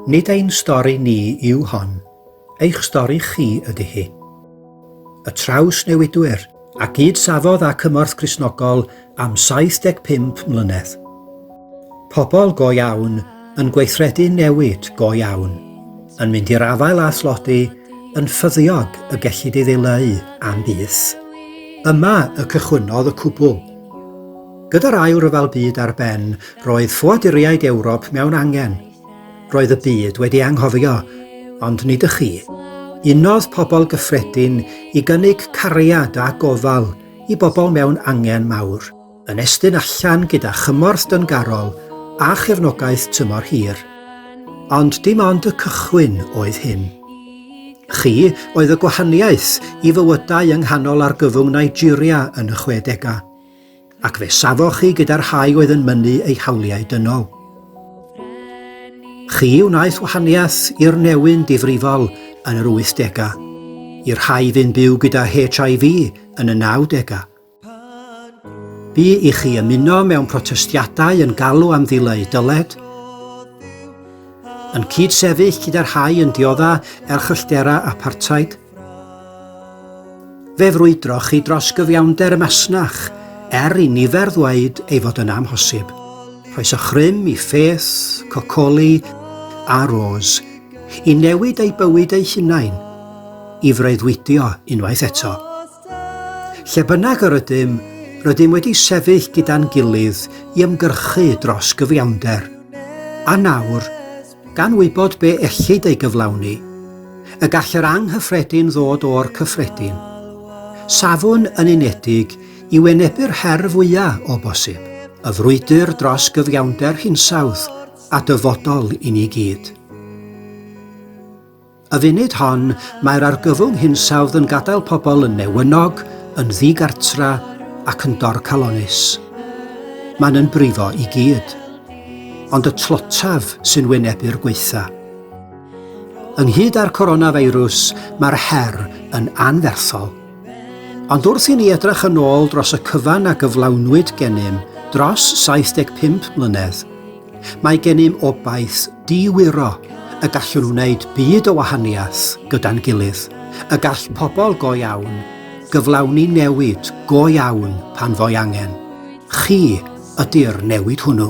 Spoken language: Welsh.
Nid ein stori ni yw hon, eich stori chi ydy hi. Y Trawsnewidwyr, a gyd safodd â cymorth Gristnogol am 75 mlynedd. Pobl go iawn, yn gweithredu newid go iawn, yn mynd i'r afael â thlodi, yn ffyddiog y gellid ei ddileu am byth. Yma y cychwynnodd y cwbl. Gyda'r Ail Ryfel Byd ar ben, roedd ffoaduriaid Ewrop mewn angen. Roedd y byd wedi anghofio, ond nid y chi. Unodd pobl gyffredin i gynnig cariad a gofal i bobl mewn angen mawr, yn estyn allan gyda chymorth dyngarol a chefnogaeth tymor hir. Ond dim ond y cychwyn oedd hyn. Chi oedd y gwahaniaeth i fywydau yng nghanol argyfwng Nigeria yn y chwedegau. ac fe safoch chi gyda'r rhai oedd yn mynnu eu hawliau dynol. Chi wnaeth wahaniaeth i'r newyn difrifol yn yr 80au, i'r rhai fu'n byw gyda HIV yn y 90au. Bu i chi ymuno mewn protestiadau yn galw am ddileu dyled, yn cyd-sefyll gyda'r rhai yn diodda erchyllterau apartheid, Fe frwydroch chi dros gyfiawnder y masnach, er i nifer ddweud ei fod yn amhosib. Rhoes a chrym i Faith, Cocoli a Rose i newid eu bywyd eu hunain, i freuddwydio unwaith eto. Lle bynnag yr ydym, rydym wedi sefyll gyda'n gilydd i ymgyrchu dros gyfiawnder. A nawr, Gan wybod be ellid ei gyflawni, y gall yr anghyffredin ddod o'r cyffredin. Safwn yn unedig i wynebu'r her fwya' o bosib, y frwydr dros gyfiawnder hinsawdd a dyfodol i ni gyd. Y funud hon, mae'r argyfwng hinsawdd yn gadael pobl yn newynog, yn ddigartra ac yn dorcalonnus. Mae'n yn brifo i gyd. Ond y tlotaf sy'n wynebu'r gweitha. Ynghyd â'r coronafeirws, mae'r her yn anferthol. Ond wrth i ni edrych yn ôl dros y cyfan a gyflawnwyd gennym dros 75 mlynedd, Mae gennym obaith di-wiro y gallwn wneud byd o wahaniaeth gyda'n gilydd, y gall pobl go iawn gyflawni newid go iawn pan fo'i angen. Chi ydy'r newid hwnnw.